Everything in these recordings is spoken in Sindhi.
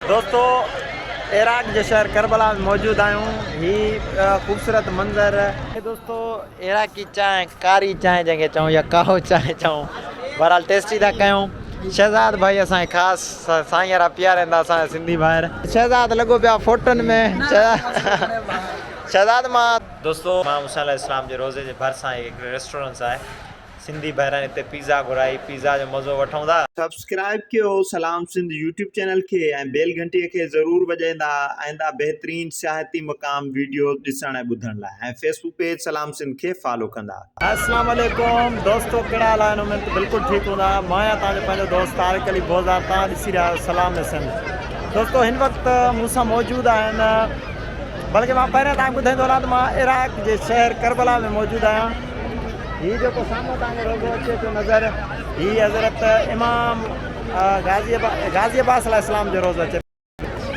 دوستو عراق جي شهر ڪربلا ۾ موجود آهيون هي خوبصورت منظر. هي دوستو عراقي چانهه ڪاري چانهه جنهن کي چئون يا ڪاهو چانهه چئون بهرحال ٽيسٽي ٿا ڪيون شهزاد ڀائي اسان کي خاص سائين يارا پيارين ٿا اسان جا سنڌي ڀائر. شهزاد لڳو پيو آ فوٽن ۾ شهزاد مان. دوستو امام حسين عليه السلام جي روضي جي ڀرسان هي هڪڙي ريسٽورنس آهي. سنڌي ڀائرن اتي پيزا گهرائي پيزا جو مزو وٺون ٿا. سبسڪرائب ڪيو سلام سنڌ يوٽيوب چينل کي ۽ بيل گهنٽي کي ضرور وڄائيندا آئنده بهترين سياحتي مقام ويڊيوز ڏسڻ ۽ ٻڌڻ لاء ۽ فيسبوڪ پيج سلام سنڌ کي فالو ڪندا. اسلام عليڪم دوستو ڪهڙا حال آهن اميد ته بلڪل ٺيڪ هوندا مان آهيان توهان جو پنهنجو دوست طارق علي بوزار توهان ڏسي رهيا آهيو سلام سنڌ دوستو هن وقت مون سان موجود آهن بلڪه مان پهريان توهان کي ٻڌائيندو هلان ته مان عراق جي شهر ڪربلا ۾ موجود آهيان هي جيڪو سامهون توهان کي روضو اچي ٿو نظر هي حضرت امام غازي غازي عباس عليه السلام جو روضو اچي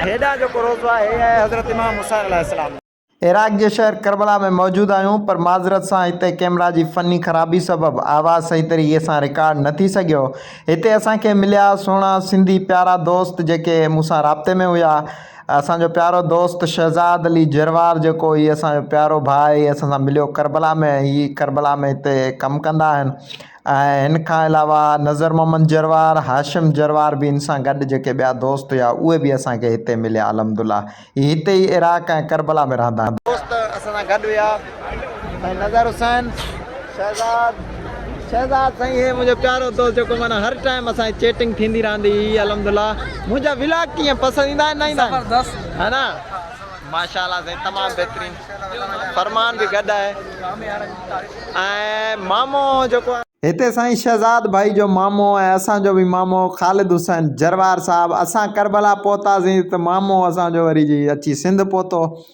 هيڏا جو روضو آهي هي آهي حضرت امام حسين عليه السلام عراق جي شهر ڪربلا ۾ موجود آهيون پر معذرت سان هتي ڪيمرا جي فني خرابي سبب آواز صحيح طريقي سان رڪارڊ نه ٿي سگهيو هتي اسان کي مليا سهڻا سنڌي پيارا دوست جيڪي مون سان رابطي ۾ هيا اسان جو پيارو دوست شهزاد علي جروار جيڪو هي اسان جو پيارو ڀاء هي اسان سان مليو ڪربلا ۾ ۽ هي ڪربلا ۾ هتي ڪم ڪندا آهن ۽ هن کان علاوه نظر محمد جروار هاشم جروار به هن سان گڏ جيڪي ٻيا دوست هيا اهي به اسان کي هتي مليا الحمدالله هي هتي ئي عراق ۽ ڪربلا ۾ رهندا آهن. دوست اسان سان گڏ هيا سائين نظر حسين شهزاد شهزاد سائين هي منهنجو پيارو دوست جيڪو معنی هر ٽائيم اسان جي چيٽنگ ٿيندي رهندي هي الحمدلله منهنجا ولاگ ڪيئن پسند ايندا آهن نه ايندا آهن زبردست ها نه ماشاءالله سائين تمام بهترين فرمان به گڏ آهي ۽ مامو جيڪو هتي سائين شهزاد ڀائي جو مامو ۽ اسان جو به مامو خالد حسين جروار صاحب اسان ڪربلا پهتاسين ته مامو اسان جو وري جي اچي سنڌ پهتو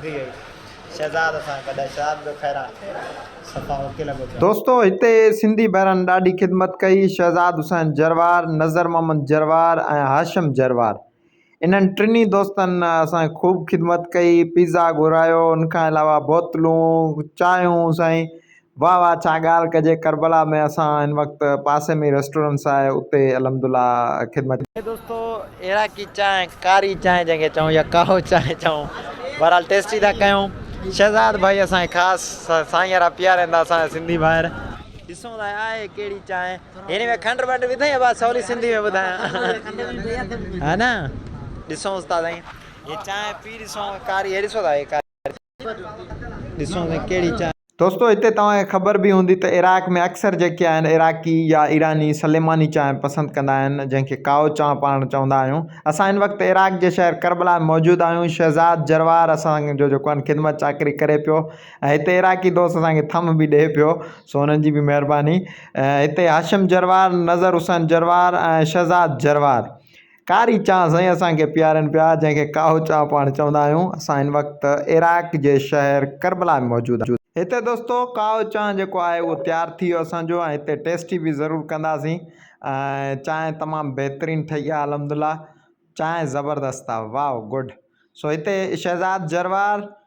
ٿي وئي شهزاد سان گڏ شهزاد به خيران صفا اوڪي لڳو پيو. دوستو هتي سنڌي ڀائرن ڏاڍي خدمت ڪئي شهزاد حسين جروار، نظر محمد جروار ۽ هاشم جروار انهن ٽنهي دوستن اسان جي خوب خدمت ڪئي پيزا گهرايو ان کان علاوه بوتلون چانهيون سائين واه واه ڇا ڳالهه ڪجي ڪربلا ۾ اسان هن وقت پاسي ۾ ئي ريسٽورنس آهي اتي الحمدالله خدمت. اي دوستو عراقي چانهه ڪاري چانهه جنهن کي چئون يا ڪاهو چانهه چئون بهرحال ٽيسٽي ٿا ڪيون شهزاد ڀائي اسان کي خاص سائين را پيار ايندا اسان جا سنڌي ڀائر. ڏسون ٿا آهي ڪهڙي چانهه هن ۾ کنڊ ونڊ وڌئين يا ڀا سولي سنڌي ۾ ٻڌايان ها نه ڏسونس ٿا سائين هي چانهه پي ڏسون ڪاري هي ڏسو ٿا هي ڪاري. دوستو هتي توهان کي خبر به هوندي ته عراق ۾ اڪثر جيڪي آهن عراقي يا ايراني سليماني چانهه پسند ڪندا آهن جنهن کي ڪائو چانهه پاڻ چوندا آهيون اسان هن وقت عراق جي شهر ڪربلا ۾ موجود آهيون شهزاد جروار اسان جو جيڪو آهن خدمت چاڪري ڪري پيو ۽ هتي عراقي دوست اسان کي ٿم به ڏئي پيو سو انهن جي به مهرباني هتي هاشم جروار نظر حسين جروار ۽ شهزاد جروار ڪاري چانهه سائين اسان کي پيارين پيا جنهن کي ڪاهو چانهه پاڻ چوندا آهيون اسان هن وقت عراق جي شهر ڪربلا ۾ موجود آهيون. هتي دوستو ڪاهو چانهه جيڪو آهي اهو تيار ٿي ويو اسان جو ۽ هتي ٽيسٽي به ضرور ڪنداسين ۽ چانهه تمام بهترين ٺهي آهي الحمدلله چانهه زبردست آهي واء گڊ سو هتي شهزاد جروار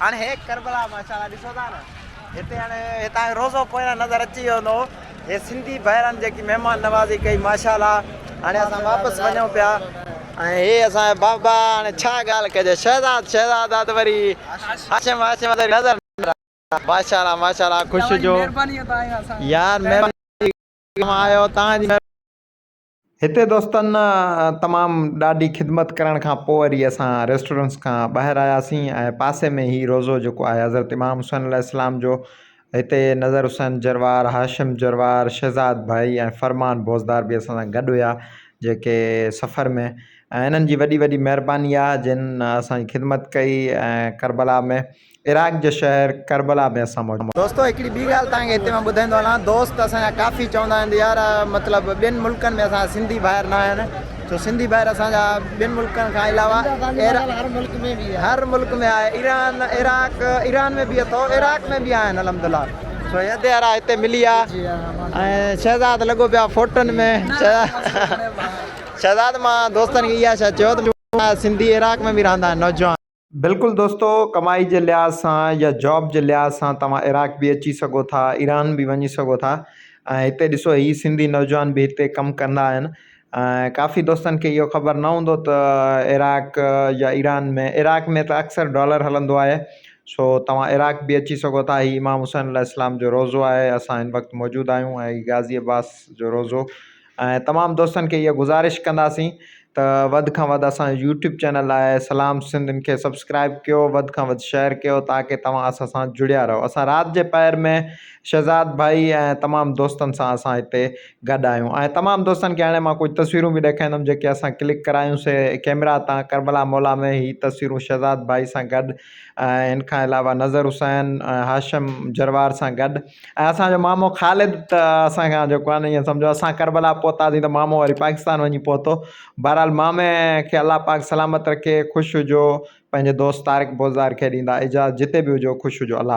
هاڻ هيء ڪربلا ماشاء الله ڏسو ٿا نه هتي هاڻي هتان روضو پويان نظر اچي ويو هوندو هي سنڌي ڀائرن جيڪي مهمان نوازي ڪئي ماشاء الله هاڻي اسان واپس وڃون پيا ۽ هي اسان جا بابا هاڻي ڇا ڳالهه ڪجي شهزاد شهزاد آ ته وري هاشم هاشم آ ته نظر ماشاء الله ماشاء الله خوش هجو يار مهرباني آيو توهان جي هتي دوستن تمام ڏاڍي خدمت ڪرڻ کان پوء وري اسان ريسٽورنس کان ٻاهر آياسين ۽ پاسي ۾ هي روضو جيڪو آهي حضرت امام حسين عليه السلام جو هتي نظر حسين جروار، هاشم جروار، شهزاد ڀائي ۽ فرمان بوزدار به اسان سان گڏ هيا جيڪي سفر ۾ ۽ انهن جي وڏي وڏي مهرباني آهي جن اسان جي خدمت ڪئي ۽ ڪربلا ۾ عراق جي شهر ڪربلا ۾ اسان موجود. دوستو هڪڙي ٻي ڳالهه توهان کي هتي مان ٻڌائيندو هلان دوست اسان جا ڪافي چوندا آهن ته يار مطلب ٻين ملڪن ۾ اسان جا سنڌي ڀائر نه آهن سو سنڌي ڀائر اسان جا ٻين ملڪن کان علاوه هر ملڪ ۾ آهي ايران عراق ايران ۾ به اٿو عراق ۾ به آهن الحمدالله سو هيد يار هتي ملي آ ۽ شهزاد لڳو پيو آ فوٽن ۾ شهزاد مان دوستن کي اها شي چيو ته سنڌي عراق ۾ به رهندا آهن نوجوان. بلڪل دوستو ڪمائي جي لحاظ سان يا جاب جي لحاظ سان توهان عراق به اچي سگهو ٿا ايران به وڃي سگهو ٿا ۽ هتي ڏسو هي سنڌي نوجوان به هتي ڪم ڪندا آهن ۽ ڪافي دوستن کي اهو خبر نه هوندو ته عراق يا ايران ۾ عراق ۾ ته اڪثر ڊالر هلندو آهي سو توهان عراق به اچي سگهو ٿا هي امام حسين عليه السلام جو روضو آهي اسان هن وقت موجود آهيون ۽ غازي عباس جو روضو ۽ تمام دوستن کي اها گذارش ڪنداسين ته وڌ کان وڌ اسان جو يوٽيوب چينل آهي سلام سنڌ ان کي سبسڪرائب ڪيو وڌ کان وڌ شيئر ڪيو تاڪه توهان اسان سان جڙيا رهو اسان رات جي پهر ۾ شهزاد ڀائي ۽ تمام دوستن سان اسان هتي گڏ آهيون ۽ تمام دوستن کي هاڻي مان ڪجهه تصويرون به ڏيکاريندم جيڪي اسان ڪلڪ ڪرايون سي ڪيمرا تان ڪربلا مولا ۾ هي تصويرون شهزاد ڀائي سان گڏ ۽ ان کان علاوه نظر حسين ۽ هاشم جروار سان گڏ ۽ اسان جو مامو خالد ته اسان کان جو ڪانه ايئن سمجهو اسان ڪربلا پهتاسين ته مامو وري پاڪستان وڃي پهتو بهرحال مامي کي الله پاڪ سلامت رکي خوش هجو پنهنجي دوست طارق بوزدار کي ڏيندا اجازت جتي به هجو خوش هجو الله